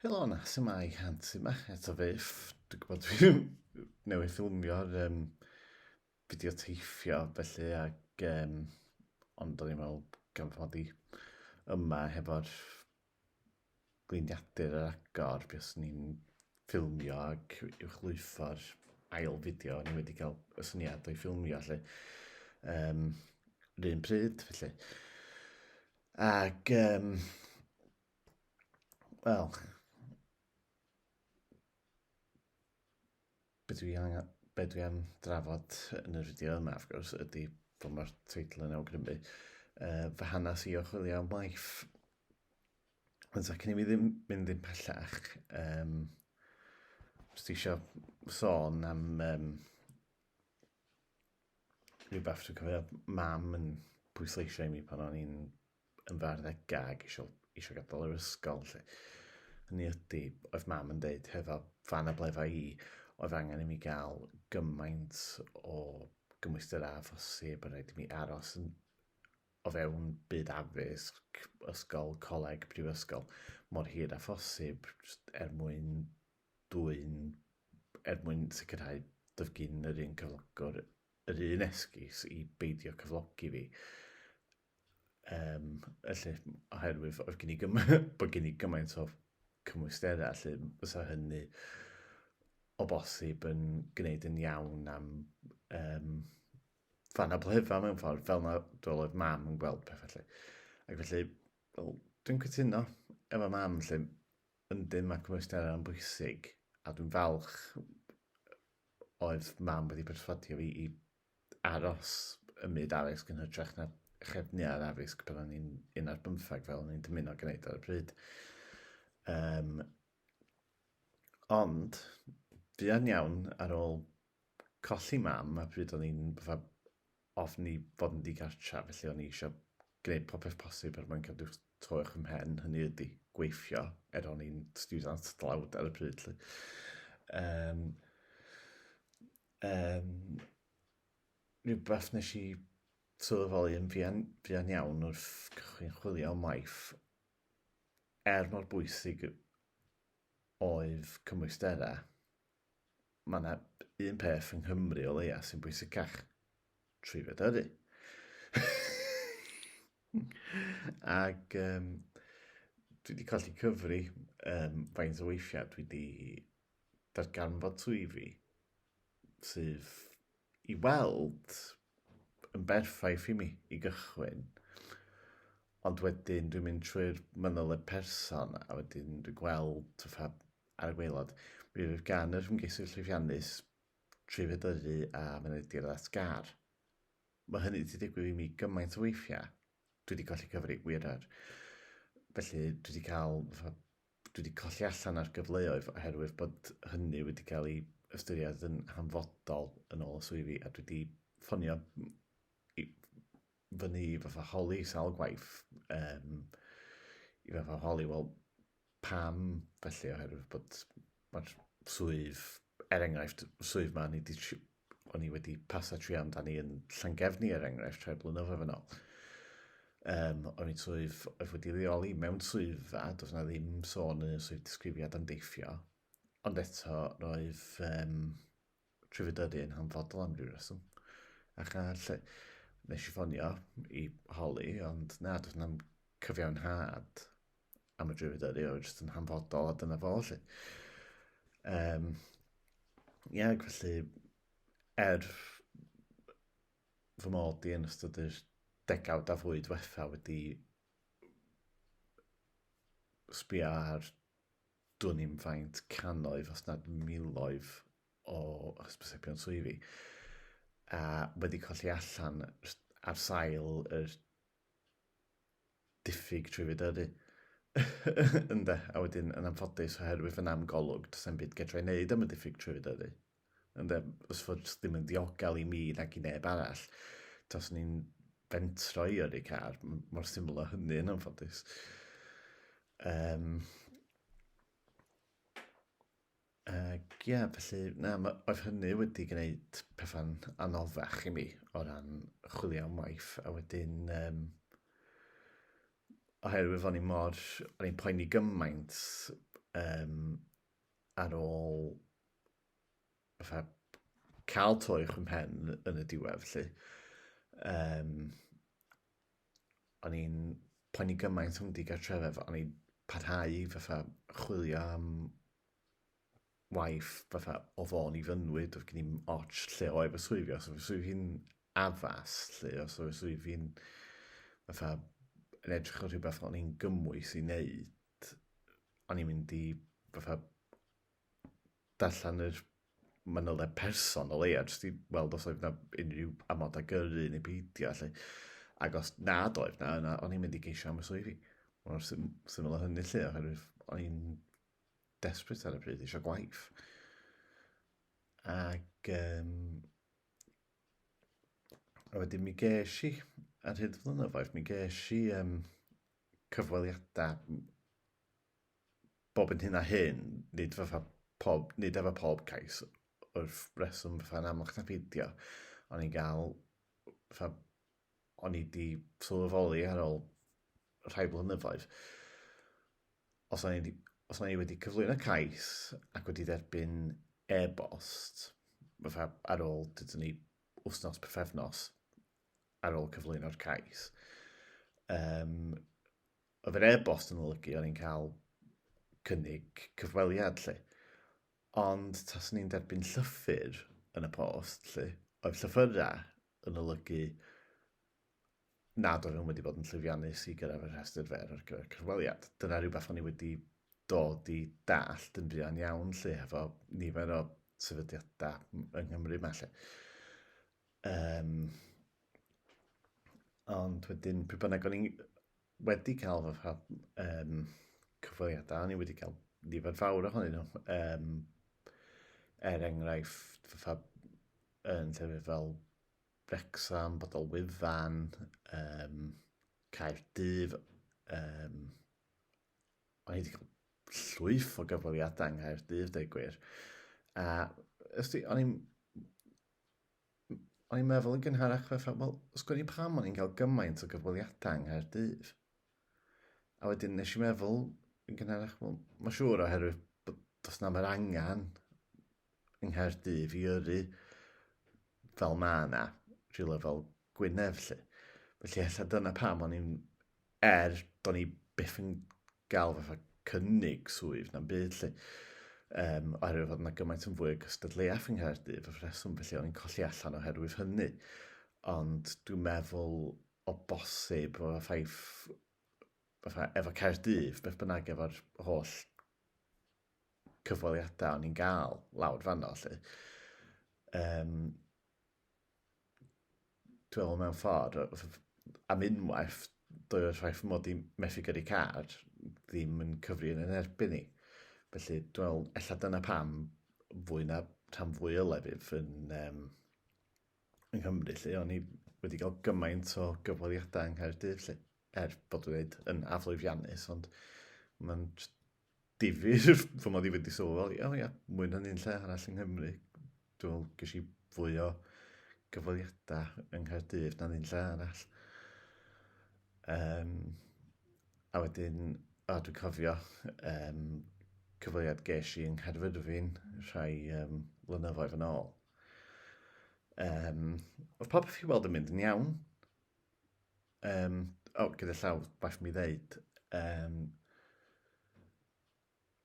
Helo na, sy'n mae Hans yma, eto fyff. Dwi'n gwybod dwi'n newydd ffilmio'r um, fideo teithio, felly, ac, um, ond o'n i'n meddwl gan fod i yma hefo'r gliniadur yr agor, beth sy'n ni'n ffilmio ac uwchlwytho'r ail fideo, o'n i wedi cael y syniad o'i ffilmio, felly, um, rhywun pryd, felly. Ac, um, wel, beth dwi angen, beth dwi am drafod yn yr fideo yma, of gwrs, ydy bod mae'r teitl yn awgrymu uh, fy hanes i o chwilio am waith. Ond ac ni mi ddim mynd i'n pellach, um, os ti eisiau sôn am um, rhywbeth dwi'n cofio mam yn pwysleisio i mi pan o'n i'n yn farddegau ac eisiau, eisiau gadael yr ysgol. Lle. Hynny ydy, oedd mam yn dweud, hefo fan a blefa i, oedd angen i mi gael gymaint o gymwystir a phosib, a rhaid i mi aros yn, o fewn byd addysg, ysgol, coleg, prifysgol, mor hir a phosib, er mwyn dwyn er mwyn sicrhau doedd gin yr un cyflogwr yr un esgus i beidio cyflogi fi. Um, felly, oherwydd oedd gen i gymaint, bod gen i gymaint o cymwysterau, felly fysa hynny o bosib yn gwneud yn iawn am um, fan a blefa mewn ffordd, fel na oedd mam yn gweld pethau felly. Ac felly, well, dwi'n cytuno efo mam lle Yndyn, mae cymwysterau yn bwysig, a dwi'n falch oedd mam wedi perswadio fi i aros ym myd addysg yn hytrach na chefnu ar addysg pan o'n i'n un ar bymthag fel o'n i'n dymuno gwneud ar y pryd. Um, ond, fuan iawn ar ôl colli mam a pryd o'n i'n fatha ofn i fod yn ddigartref, felly o'n i eisiau gwneud popeth posib er mwyn cadw to uwch fy mhen, hynny ydi, gweithio, er o'n i'n stiwdant dlawd ar y pryd. Lly. Um, um, rhywbeth nes i sylweddoli yn fuan, fuan iawn wrth cychwyn chwilio am waith, er mor bwysig oedd cymwysterau, mae yna un peth yng Nghymru o leia sy'n bwysicach. Trwydded ydy. Ac um, dwi wedi colli cyfri um, faint o weithiau dwi wedi darganfod swyddi sydd i weld yn berffaith i mi i gychwyn. Ond wedyn dwi'n mynd trwy'r mynyl y person a wedyn dwi'n gweld fatha ar y gwaelod, mi fydd gan yr ymgeisydd llwyddiannus dri feddygu a mynediad at gar. Mae hynny wedi digwydd i mi gymaint o weithiau, dwi wedi colli cyfri, wir er. Felly dwi wedi cael, dwi wedi colli allan ar gyfleoedd oherwydd bod hynny wedi cael ei ystyried yn hanfodol yn ôl y swyddi a dwi wedi ffonio i fyny i fatha holi sawl gwaith um, i fatha holi, wel, Pam felly? Oherwydd bod mae'r swydd, er enghraifft, swydd ma ni di, o'n i wedi pasa tri amdani yn Llangefni er enghraifft rhai blynyddoedd yn ôl. Um, o'n i'n swydd oedd wedi reoli mewn swyddfa, does yna ddim sôn yn y swydd disgrifiad am deithio, ond eto roedd um, trwyddedi yn hanfodol am ryw reswm. Ac a lle, nes i ffonio i holi, ond na, dwi'n am cyfiawnhad am y drwyddedi, oedd jyst yn hanfodol, a dyna fo, lle. Um, ia, ac felly, er fy mod i yn ystod yr degawd a fwy diwetha wedi sbio ar dwn i'm faint cannoedd, os nad miloedd o hysbysebion swyddi a wedi colli allan ar sail yr diffyg trwy fydyrru. Ynde, a wedyn yn anffodus oherwydd fy namgolwg, does e'n byd getra i wneud am y diffyg trwy fydyrru. ynde, os fod ddim yn ddiogel i mi nag i neb arall, tas ni'n bentro i yrru car, mor syml o hynny yn anffodus. Um, ac ia, yeah, felly, na, oedd hynny wedi gwneud pethau'n anoddach i mi o ran chwilio am waith, a wedyn, um, oherwydd o'n i mor, o'n i'n poeni gymaint um, ar ôl fatha cael toi o'ch ymhen yn y diwedd, lle. Um, o'n i'n poeni gymaint am digartrefedd, o'n i'n parhau fatha chwilio am waith fatha o fôn i fynwyd, oedd gen i'n ots lle o efo swifio, os oedd swif hi'n addas, lle os oedd swif hi'n fatha yn edrych o rhywbeth o'n i'n gymwys i wneud, o'n i'n mynd i fatha darllen yr manyliau person o leia, jyst i weld os oedd yna unrhyw amodau gyrru neu peidio, lle. Ac os nad oedd na, yna o'n i'n mynd i geisio am y swyddi. Mor sym syml o hynny lle, oherwydd o'n i'n desbryd ar y pryd eisiau gwaith. Ac um, a wedyn mi gesh i, ar hyd flynyddoedd, mi gesh i um, cyfweliadau bob yn hyn a hyn, nid fatha pob, nid efo pob cais wrth reswm fatha yn amlwch na peidio, ond i'n gael fatha, o'n i wedi sylweddoli ar ôl rhai blynyddoedd, os o'n i, os o'n i wedi cyflwyno cais ac wedi derbyn e-bost, fatha ar ôl, dydyn ni, wythnos, pyfefnos, ar ôl cyflwyno'r cais. Um, oedd yr e-bost yn olygu o'n i'n cael cynnig cyfweliad lle. Ond tas ni'n derbyn llythyr yn y post lle, oedd llythyrau yn olygu nad oedd nhw'n wedi bod yn llwyddiannus i gyrraedd y rhestr fer ar gyfer cyfweliad. Dyna rhywbeth o'n i wedi dod i dallt yn fuan iawn lle hefo nifer o sefydliadau yng Nghymru mae lle. Um, ond wedyn, pryd bynnag o'n i wedi cael fy ffa um, cyfweliadau, o'n i wedi cael nifer fawr ohonyn nhw. Um, er enghraifft, fy ffa yn llefydd fel Wrexham, Bodol Wyfan, um, Caerdydd, um, o'n i wedi cael llwyth o gyfweliadau yng Nghaerdydd, dweud gwir. A ysdi, o'n i'n o'n i'n meddwl yn gynharach fatha, wel, os gwni pam o'n i'n cael gymaint o gyfweliadau yng Nghaerdydd. A wedyn nes i meddwl yn gynharach, wel, mae'n siŵr oherwydd bod does na'm yr angen yng Nghaerdydd i yrru fel mae yna, rhywle fel Gwynedd, lle. Felly, ella dyna pam o'n i'n Er, do'n i byth yn gael fatha cynnig swydd na'n byd lle. Um, oherwydd fod yna gymaint yn fwy o gystadleuaeth yng Nghaerdydd, fy rheswm felly o'n i'n colli allan oherwydd hynny. Ond dwi'n meddwl o bosib o ffaith fatha efo Caerdydd, beth bynnag efo'r holl cyfweliadau o'n i'n gael lawr fanno, lle. Um, Dwi'n meddwl mewn ffordd, am unwaith, doedd y ffaith fy mod i'n methu gyrru car ddim yn cyfri yn yn erbyn i. Felly, dwi'n meddwl, ella dyna pam fwy na rhan fwy o lefydd yn, um, yng Nghymru, lle o'n i wedi cael gymaint o gyfweliadau yng Nghaerdydd, lle, er bod wedi yn aflwyfiannus, ond mae'n difyr, fy mod i wedi sylweddoli, o ia, mwy na ni'n lle arall yng Nghymru. Dwi'n meddwl, ges i fwy o gyfweliadau yng Nghaerdydd na ni'n lle arall. Um, a wedyn, a dwi'n cofio um, cyfweliad ges i yng Nghaerfyrddin rhai um, flynyddoedd yn ôl. Um, oedd popeth chi'n weld yn mynd yn iawn. Um, o, oh, gyda llaw, bach mi ddeud. Um,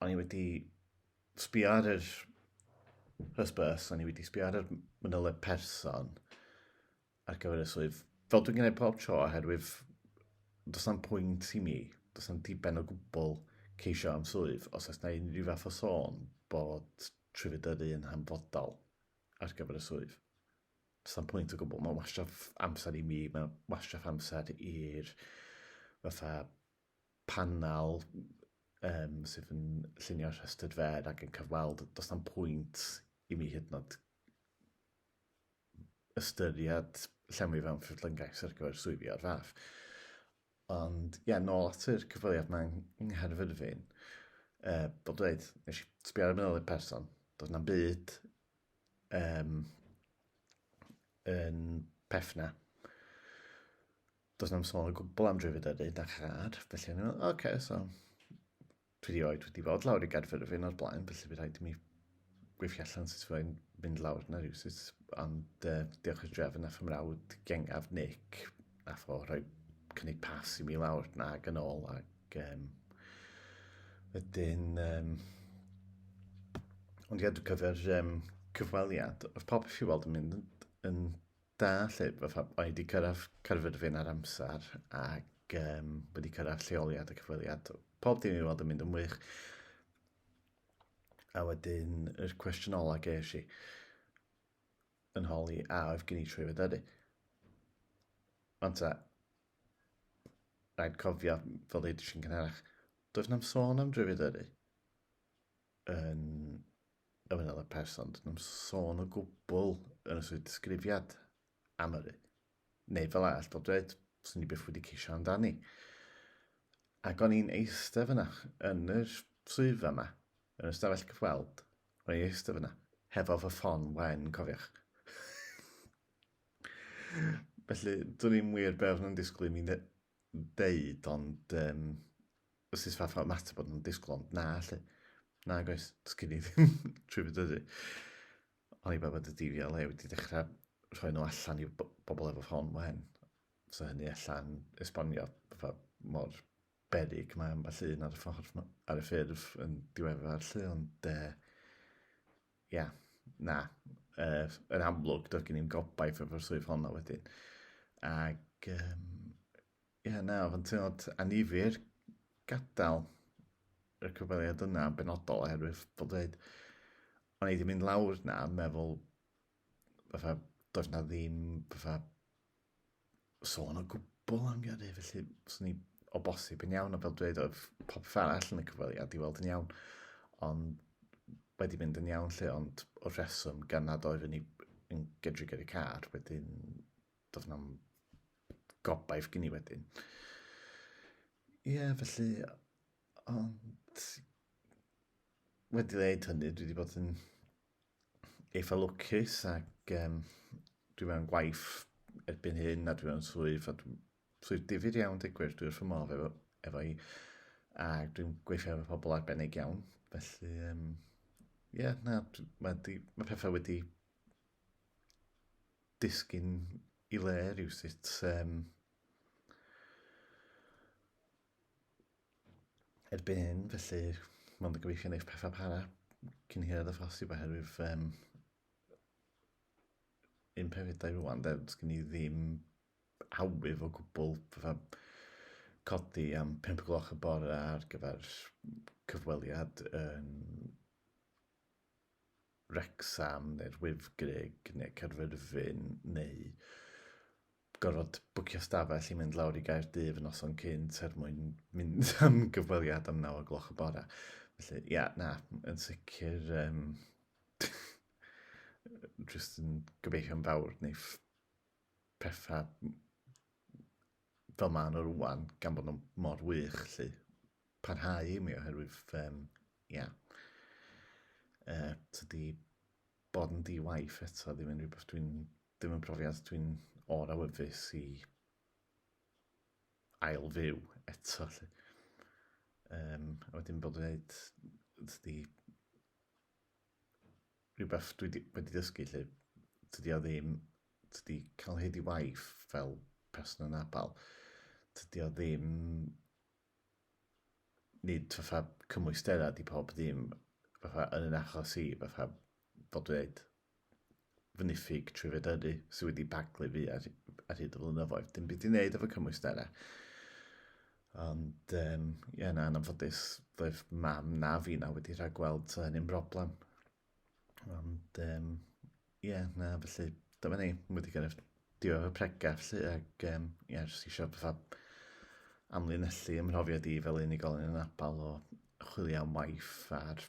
o'n i wedi sbio ar yr hysbys, o'n i wedi sbio ar yr mynyleb person ar gyfer y swydd. Fel dwi'n gwneud pob tro, oherwydd does na'm pwynt i mi, does na'm diben o gwbl ceisio am swydd, os oes na unrhyw fath o sôn bod trwyfedyddu yn hanfodol ar gyfer y swydd. Sa'm pwynt o gwbl, mae'n wastraff amser i mi, mae'n wastraff amser i'r fatha panel um, sydd yn llunio'r rhestr fer ac yn cyfweld, does na'm pwynt i mi hyd nod ystyried llenwi fewn ffurflyngaeth ar gyfer swyddi o'r fath. Ond, ie, yeah, nôl at yr cyfweliad mae yng Nghaerfyrddin, uh, bod dweud, nes i sbio ar y person, does na'm byd um, yn pefna. Does na'm sôn o gwbl am drwyfyd ydyn, da chad, felly o'n i'n meddwl, oce, okay, so, dwi wedi oed wedi bod lawr i Gaerfyrddin o'r blaen, felly bydd rhaid i mi gweithio allan sut fyddai'n mynd lawr yna rhywsut, ond uh, diolch i'r drefn a fy mrawd gengaf Nick, Nath o rhoi cynnig pas i mi lawr nag yn ôl ac um, wedyn um, ond gadw cyfer um, cyfweliad oedd pob i weld yn mynd yn, yn da lle fatha oedd wedi cyrraedd cyrfyd fi'n ar amser ac um, wedi cyrraedd lleoliad y cyfweliad pob dim i weld yn mynd yn wych a wedyn yr cwestiwn ola ges i yn holi a oedd gen i trwy fy dynnu. Ond ta, rhaid cofio fel ei drisi'n cynharach, does na'm sôn am drwy fy dynnu yn y wynel y person, does na'm sôn o gwbl yn y swydd disgrifiad am yrru. Neu fel all dod dweud, swn i byth wedi ceisio amdani. Ac o'n i'n eistedd fyna yn y swyddfa yma, yn y stafell cyfweld, o'n i'n eistedd fyna, hefo fy ffon wen, cofiwch. Felly, dwi'n i'n wir beth nhw'n disgwyl i mi ddeud, ond um, os ys fath o ymateb bod nhw'n disgwyl, ond na, lle. Na, goes, dysgu ni ddim trwy fyd ydy. Oni bai bod y DVLA wedi dechrau rhoi nhw allan i bobl efo ffôn wen. So hynny allan esbonio fatha mor berig mae ambell un ar y ffordd ar y ffurf yn diweddar lle, ond e, ia, na, e, yn amlwg doedd gen i'n gobaith efo'r swydd honno wedyn. Ac, um, Ie, na, oedd yn teimlad anifir gadael y cyfweliad yna yn benodol oherwydd fel dweud, o'n i wedi mynd lawr na yn meddwl fatha does na ddim fatha sôn o gwbl am gyrru felly swn i o bosib yn iawn a fel dweud oedd popeth arall yn y cyfweliad i weld yn iawn ond wedi mynd yn iawn lle ond o'r rheswm gan nad oedd yn, i, yn gydrig ar y car wedyn doedd na'm gobaith gen i wedyn. Ie, yeah, felly, ond wedi dweud hynny, dwi wedi bod yn eitha lwcus ac um, dwi mewn gwaith erbyn hyn a dwi mewn swydd a dwi'n swydd difyr iawn digwyr, dwi'n wrth fy modd efo, efo i a dwi'n gweithio efo pobl arbennig iawn, felly um, ie, yeah, na, mae, di, mae pethau wedi disgyn i le rhywsut. Um, erbyn hyn, felly mae'n gobeithio wneud pethau para cyn hirad y ffosib oherwydd um, un peth i dau rwan, dweud gen i ddim awydd o gwbl fatha codi am 5 gloch y bore ar gyfer cyfweliad yn Wrecsam neu'r Wyddgrug neu Caerfyrddin neu gorfod bwcio stafell i mynd lawr i Gaerdydd y noson cynt er mwyn mynd am gyfweliad am naw o gloch y bore. Felly, ia, yeah, na, yn sicr... Um, just yn gobeithio'n fawr wneith pethau fel maen nhw rwan, gan bod nhw mor wych, lly, parhau i mi oherwydd, um, ia, uh, tydi bod yn di-waith eto ddim yn rhywbeth dwi'n, ddim yn profiad dwi'n o'r awyddus i ail fyw eto, lly. Um, a wedyn bod yn gwneud, tydi, rhywbeth dwi 'di wedi dysgu 'lly, tydi o ddim, tydi cael hyd i waith fel person anabl, tydi o ddim, nid fatha cymwysterau 'di pawb ddim, fatha yn 'yn achos i, fatha fel dwi ddeud, fy niffyg trwyfedyddu sydd wedi baglu fi ar, ar hyd y flynyddoedd. Dim byd i wneud efo cymwysterau. Ond, um, ie, yeah, na, yn anffodus, doedd mam na fi na wedi rhagweld so hynny'n broblem. Ond, um, ie, yeah, na, felly, dyma ni, wedi gyrraedd Diolch am y pregeth 'lly ac yym ie jyst isio fatha amlinellu 'y mhrofiad i fel unigolyn anabal o chwilio am waith a'r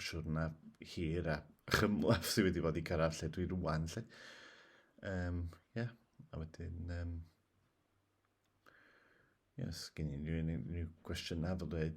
siwrna hir a chymhleth sydd wedi bod i cyrraedd lle dwi rŵan 'lly. Yym ie a wedyn yym ie os gen unrhyw unrhyw gwestiynau fel dweud